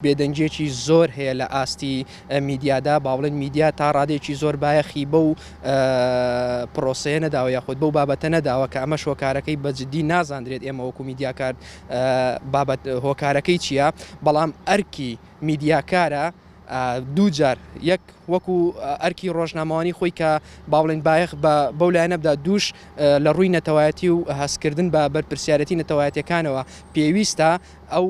بێدەنگیەکی زۆر هەیە لە ئاستی میدیادا با بڵێن میدیا تا ڕادەیەکی زۆر بایەخی بەو پرۆسەیە نەداوە یاخود بەو بابەتە نەداوە کە ئەمەش هۆکارەکەی بەجددی نازاندرێت ئێمە وەکو میدیاکار بابەت هۆکارەکەی چییە بەڵام ئەرکی میدیاکارە دوو جار یەک وەکو ئەرکی ڕۆژنامەوانی خۆی کە باڵێن بایەخ بە بەو لایەنە بدا دووش لە ڕووی نەتەوایەتی و هەستکردن بە بەرپرسیارەتی نەتەوایەتەکانەوە پێویستە ئەو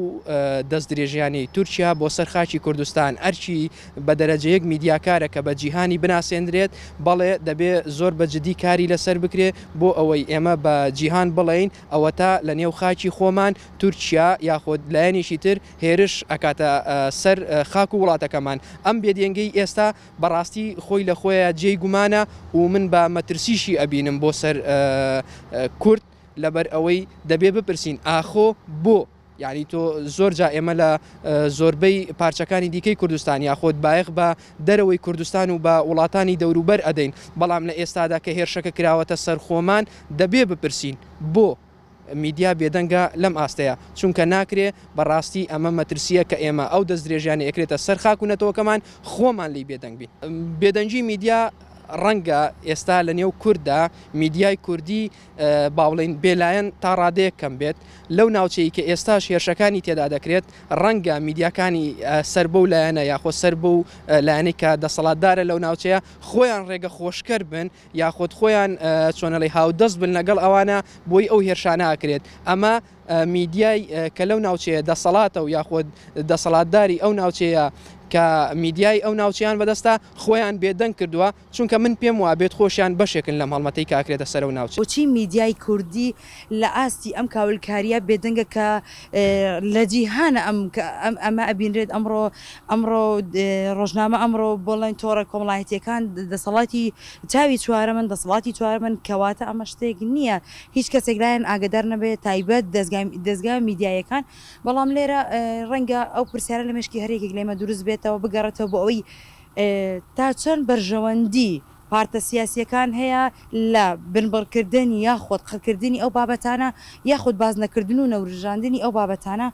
دەستدرێژیانەی تورکیا بۆ سەر خاکی کوردستان ئەرکی بە دەرەجە یەک میدیاکارە کە بە جیهانی بناسێندرێت، بەڵێ دەبێ زۆر بە جدی کاری لە سەر بکرێ بۆ ئەوەی ئێمە بە جیهان بڵێین ئەوەتا لە نێو خاکی خۆمان تورکیا یاخود لایەنێکی تر هێرش ئەکاتە سەر خاک و وڵاتەکەمان ئەم بێدێنگەی ئێستا بە ڕاستی خۆی لە خۆیا جێی گومانە و من بە مەترسیشی ئەبینم بۆ سەر کورد. لەبەر ئەوەی دەبێ بپرسین ئاخۆ بۆ؟ یانی تۆ زۆر جا ئێمە لە زۆربەی پارچەکانی دیکەی کوردستان یاخۆد بایەخ بە دەرەوەی کوردستان و بە وڵاتانی دەوروبەر ئەدەین بەڵام لە ئێستادا کە هێرشەکە کراوەتە سەر خۆمان دەبێ بپرسین بۆ؟ میدیا بێدەنگە لەم ئاستەیە چونکە ناکرێ بە ڕاستی ئەمە مەترسییە کە ئێمە ئەو دەستدرێژیانە ئەکرێتە سەر خاک و نەتەوەکەمان خۆمان لێی بێدەنگ بین. بێدەنگی میدیا ڕەنگە ئێستا لە نێو کورددا میدیای کوردی بابڵێین بێلایەن تا ڕادەیەک کەم بێت، لەو ناوچەی کە ئێستاش هێرشەکانی تێدا دەکرێت، ڕەنگە میدیاکانی سەر بەو لایەنە یاخۆ سەر بەو لایەنەی کە دەسەڵاتدارە لەو ناوچەیە خۆیان ڕێگە خۆشکەر بن یاخۆد خۆیان چۆنەڵی هاودەست بن لەگەڵ ئەوانە بۆی ئەو هێرشانە ئەکرێت ئەمە میدیای کە لەو ناوچەیە دەسەڵاتە و یاخۆد دەسەڵاتداری ئەو ناوچەیە کە میدیای ئەو ناوچەیان بەدەستە خۆیان بێدەنگ کردووە چونکە من پێم وابێت خۆشیان بەشێکن لەم هەڵمەتەی کە ئەکرێتە سەرە و ناوچەی. بۆچی میدیای کوردی لە ئاستی ئەم کاولکارییە بێدەنگە کە لە جیهانە ئەم ئەمە ئەبینرێت ئەمڕۆ ئەمڕۆ ڕۆژنامە ئەمڕۆ بڵێن تۆڕە کۆمەڵایەتییەکان دەسەڵاتی چاوی چوارەمن دەسەڵاتی چوارەمن کەواتە ئەمە شتێک نییە هیچ کەسێک لایان ئاگەدار نەبێت تایبەت دەزگا دەزگا میدیاییەکان بەڵام لێرە ڕەنگە ئەو پرسیارە لە مێشکی هەر یەکێک لێمە دروست بێتەوە بگەڕێتەوە بۆ ئەوەی تا چەند بەرژەوەندی پارتە سیاسییەکان هەیە لە بنبڕکردن یاخود قڕکردنی ئەو بابەتانە یاخود بازنەکردن و نەورژاندنی ئەو بابەتانە